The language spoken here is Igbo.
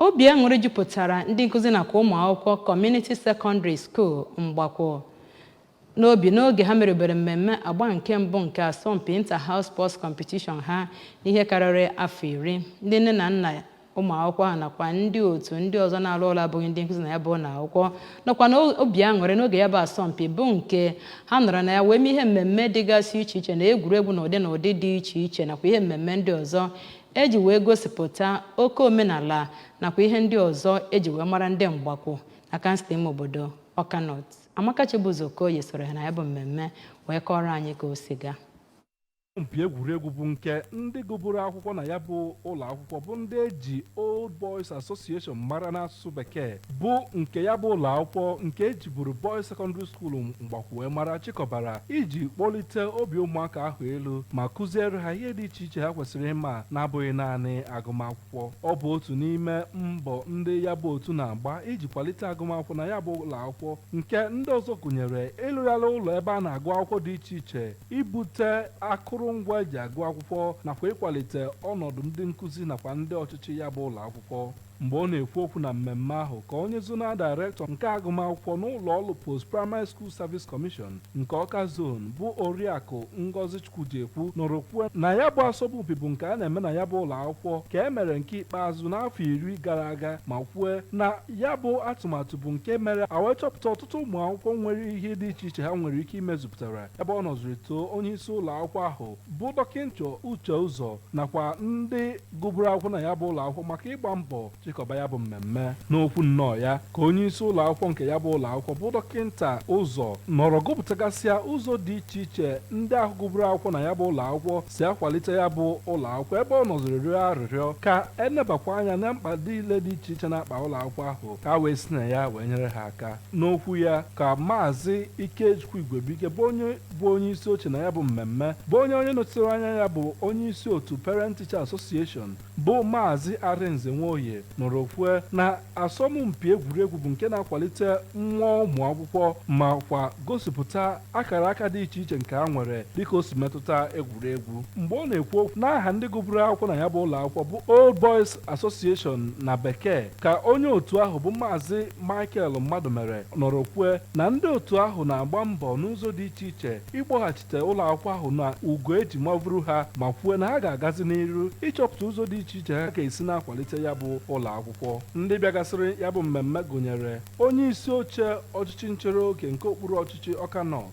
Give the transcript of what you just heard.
Obi aṅụrị jupụtara ndị nkụzi nakwa ụmụ akwụkwọ Community Secondary School Mgbakwụ n'obi n'oge ha merubere mmemme agba nke mbụ nke asọmpi Inter-House Sports Competition ha n'ihe karịrị afọ iri. Ndị nne na nna ụmụ akwụkwọ ahụ nakwa ndị otu ndị ọzọ na-arụ ọrụ abụghị ndị nkụzi na ya bụ ụlọ akwụkwọ nọkwa n'obi aṅụrị n'oge ya bụ asọmpi bụ nke ha nọrọ na ya wee mee ihe mmemme dịgasị iche iche na egwuregwu na ụdị na ụdị dị iche iche nakwa ihe mmemme ndị ọzọ eji wee gosipụta oke omenala nakwa ihe ndị ọzọ eji wee mara ndị Mgbakwụ na kansụl ime obodo Ọka North Amaka Chibụzọ Okoye soro ha na ya bụ mmemme wee kọọrọ anyị ka o si gaa asọmpi egwuregwu bụ nke ndị gụburu akwụkwọ na ya bụ ụlọ akwụkwọ bụ ndị eji Old Boys Association mara n'asụsụ asụsụ bekee bụ nke ya bụ ụlọ akwụkwọ nke ejiburu Boys Secondary School Mgbakwu wee mara chịkọbara iji kpọlite obi ụmụaka ahụ elu ma kụziere ha ihe dị iche iche ha kwesịrị ịma na-abụghị naanị agụmakwụkwọ ọ bụ otu n'ime mbọ ndị ya bụ otu na-agba iji kwalite agụmakwụkwọ na ya bụ ụlọ akwụkwọ nke ndị ọzọ gụnyere ịlụgharị ụlọ ebe a na-agụ akwụkwọ dị iche iche ibute akụrụngwa eji agụ akwụkwọ nakwa ịkwalite ọnọdụ ndị nkụzi nakwa ndị ọchịchị ya bụ ụlọ akwụkwọ Mgbe ọ na-ekwu okwu na mmemme ahụ ka onye Zonal Director nke agụmakwụkwọ n'ụlọọrụ Post Primary School Service Commission nke Awka Zone bụ Oriakụ Ngozi Chukwujekwu nọrọ kwue na ya bụ asọmpi bụ nke a na-eme na ya bụ ụlọakwụkwọ ka e mere nke ikpeazụ n'afọ iri gara aga ma kwue na ya bụ atụmatụ bụ nke mere a wee chọpụta ọtụtụ ụmụakwụkwọ nwere ihe dị iche iche ha nwere ike imezupụtara ebe ọ nọziri too onyeisi ụlọakwụkwọ ahụ bụ Dọkịnta Uche Ụzọ nakwa ndị gụburu akwụkwọ na ya bụ ụlọ akwụkwọ maka ịgba mbọ chịkọba ya bụ mmemme n'okwu nnọọ ya ka onye isi ụlọ akwụkwọ nke ya bụ ụlọ akwụkwọ bụ dọkịnta ụzọ nọrọ gụpụtagasịa ụzọ dị iche iche ndị ahụ gụburu akwụkwọ na ya bụ ụlọ akwụkwọ si akwalite ya bụ ụlọ akwụkwọ ebe ọ nọziri rịọ arịrịọ ka enebakwa anya na mkpa niile dị iche iche na-akpa ụlọ akwụkwọ ahụ ka a wee si na ya wee nyere ha aka n'okwu ya ka Maazị Ikechukwu Igwebuike bụ onye bụ onye isi oche na ya bụ mmemme bụ onye onye nọchitere anya ya bụ onye isi otu Parent Teacher Association bụ Maazị Arinze Nwoye nọrọ kwue na asọmpi egwuregwu bụ nke na-akwalite mmụọ ụmụ akwụkwọ ma kwa gosipụta akara aka dị iche iche nke ha nwere dịka o si metụta egwuregwu mgbe ọ na-ekwu okwu n'aha ndị gụburu akwụkwọ na ya bụ ụlọ akwụkwọ bụ Old Boys Association na bekee Ka onye otu ahụ bụ Maazị Michael Mmadụmere nọrọ kwue na ndị otu ahụ na-agba mbọ n'ụzọ dị iche iche ịkpọghachite ụlọakwụkwọ ahụ na ugo e ji mavuru ha ma kwue na ha ga-agazi n'iru ịchọpụta ụzọ dị iche iche ha ga-esi na-akwalite ya bụ ụlọakwụkwọ. Ndị bịagasịrị ya bụ mmemme gụnyere Onyeisi oche ọchịchị nchere oge nke okpuru ọchịchị Ọka North,